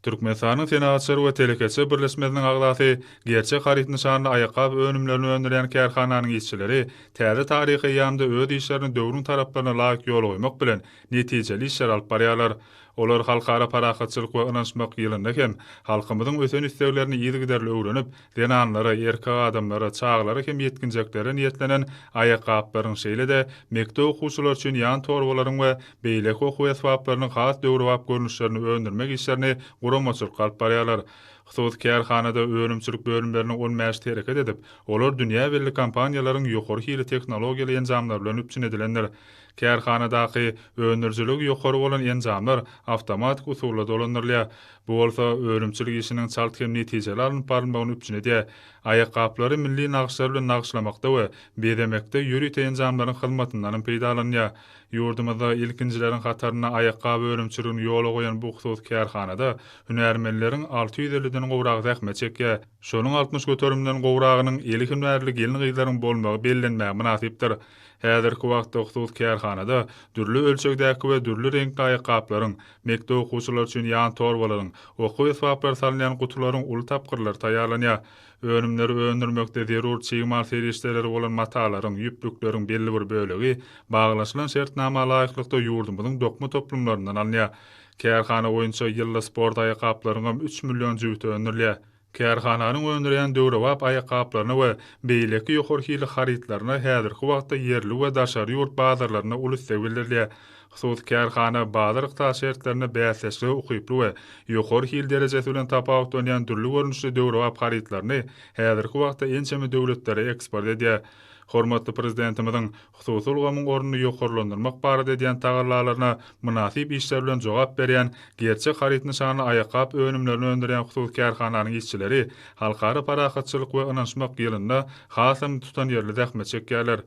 Türkmenistanyň Senagatçylar we telekeçiler birleşmesiniň agzasy, Gerçek haryt nyşanly aýakgap önümlerini öndürýän kärhananyň işçileri täze taryhy eýýamda öz işlerini döwrüň talaplaryna laýyk ýola goýmak bilen, netijeli işler alyp barýarlar. Olar Halkara parahatçylyk we ynanyşmak ýylynda hem halkymyzyň ösen isleglerini yzygiderli öwrenip, zenanlara, erkek adamlara, çagalara hem ýetginjeklere niýetlenen aýakgaplaryň, şeýle-de mekdep okuwçylary üçin ýan torbalaryň we beýleki okuw esbaplarynyň has döwrebap görnüşlerini öndürmek işlerini guramaçylykly alyp barýarlar. Hususy kärhanada önümçilik bölümleriniň on bäşisi hereket edip, olar dünýä belli kompaniýalaryň ýokary hili tehnologiýaly enjamlary bilen üpjün edilendir. Kärhanadaky öndürijiligi ýokary bolan enjamlar awtomatik usulda dolandyrylýar. Bu bolsa önümçilik işiniň çalt hem netijeli alnyp barylmagyny üpjün edýär. Aýakgaplary milli nagyşlar bilen nagyşlamakda we bezemekde ýörite enjamlaryň hyzmatyndanam peýdalanylýar. Ýurdumyzda ilkinjileriň hatarynda aýakgap önümçiligini ýola goýan bu hususy kärhanada hünärmenleriň alty ýüz elliden gowragy zähmet çekýär. Şonuň altmyş göterimden gowragynyň eli hünärli gelin-gyzlaryň bolmagy bellenmäge mynasypdyr. Häzirki wagtda hususy kärhanada dürli ölçegdäki we dürli reňkli aýakgaplaryň, Mekdep okuwçylary üçin ýan torbalaryň, okuw esbaplary salynýan gutularyň uly tapgyrlary taýýarlanýar. Önümleri öndürmekde zerur çig mal serişdeleri bolan matalaryň, ýüplükleriň belli bir bölegi baglaşylan şertnama laýyklykda ýurdumyzyň dokma toplumlaryndan alynýar. Kärhana boýunça ýylda sport aýakgaplaryňam üç million jübüti öndürilýär. Kärhananyň öndürýän döwrebap aýakgaplaryna we beýleki ýokary hilli harytlaryna häzirki wagtda ýerli we daşary ýurt bazarlarynda uly isleg bildirilýär. Hususy kärhana bazar-ykdysady şertlerinde bäsdeşlige ukyply we ýokary hil derejesi bilen tapawutlanýan dürli görnüşli döwrebap harytlaryny häzirki wagtda ençeme döwletlere eksport edýär. Hormatly Prezidentimiziň hususy ulgamyň ornuny ýokarlandyrmak barada edýän tagallalaryna mynasyp işler bilen jogap berýän Gerçek haryt nyşanly aýakgap önümlerini öndürýän hususy kärhananyň işçileri Halkara parahatçylyk we ynanyşmak ýylynda hasam tutanýerli zähmet çekýärler.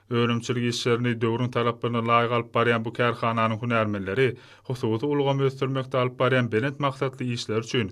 Önümçilik işlerini döwrüň talaplaryna laýyk alyp barýan bu kärhananyň hünärmenleri hususy ulgamy ösdürmekde alyp barýan belent maksatly işleri üçin